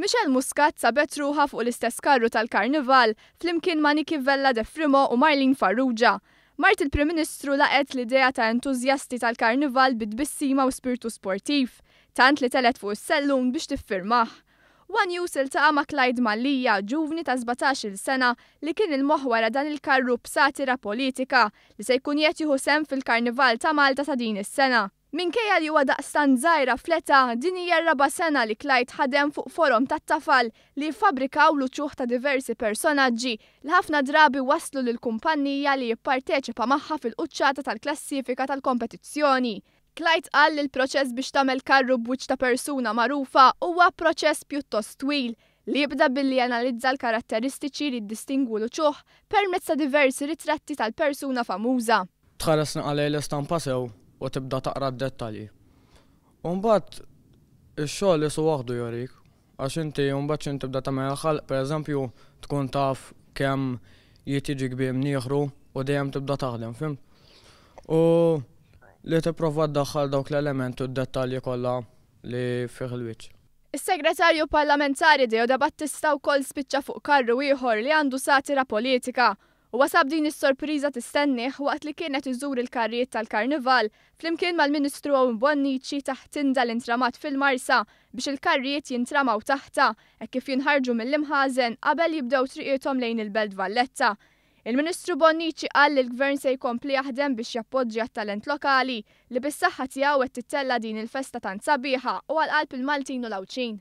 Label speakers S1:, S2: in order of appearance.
S1: Michelle Muscat sabet ruħha fuq l-istess karru tal-Karnival flimkien ma' Niki Vella de Frimo u Marlene Farrugia. Mart il-Prim Ministru laqgħet l-idea ta' entużjasti tal-Karnival bi tbissima u spirtu sportiv, tant li telgħet fuq is-sellun biex tiffirmah. One News iltaqa' ma' Clyde Mallia, ġuvni ta' sbatax-il sena li kien il-moħħ wara dan il-karru b'satira politika li se jkun qiegħed jieħu sehem fil-Karnival ta' Malta ta' din is-sena. Minkejja li huwa daqstant żgħira fl-età, din hija r-raba' sena li Clyde ħadem fuq forom tat-tafal li jiffabrikaw l-uċuħ ta' diversi personaġġi li ħafna drabi wasslu lill-kumpannija li jipparteċipa magħha fil-quċċata tal-klassifika tal-kompetizzjoni. Clyde qal li l-proċess biex tagħmel karru b'wiċċ ta' persuna magħrufa huwa proċess pjuttost twil, li jibda billi janalizza l-karatteristiċi li jiddistingwu l-uċuħ permezz ta' diversi ritratti tal-persuna famuża. Tħares naqra lejn
S2: l-istampa sew u tibda taqra d-dettalji. U mbagħad ix-xogħol qisu waħdu jurik. Għax inti mbagħad x'int tibda tagħmel il-ħalq, pereżempju, tkun taf kemm jid jiġi kbir minn ieħru u dejjem tibda taħdem, fhimt? U li tipprova ddaħħal dawk l-elementi u d-dettalji kollha li fih il-wiċċ. Is-Segretarju
S1: Parlamentari Deodabattista wkoll spiċċa fuq karru ieħor li għandu satira politika Huwa sab din is-sorpriża tistennieh waqt li kien qed iżur il-karrijiet tal-Karnival flimkien mal-Ministru Owen Bonnici taħt tinda li ntramat fil-Marsa biex il-karrijiet jintramaw taħtha hekk kif jinħarġu mill-imħażen qabel jibdew triqiethom lejn il-Belt Valletta. Il-Ministru Bonnici qal li l-Gvern se jkompli jaħdem biex jappoġġi għat-talent lokali li bis-saħħa tiegħu qed tittella' din il-festa tant sabiħa u għal qalb il-Maltin u l-Għawdxin.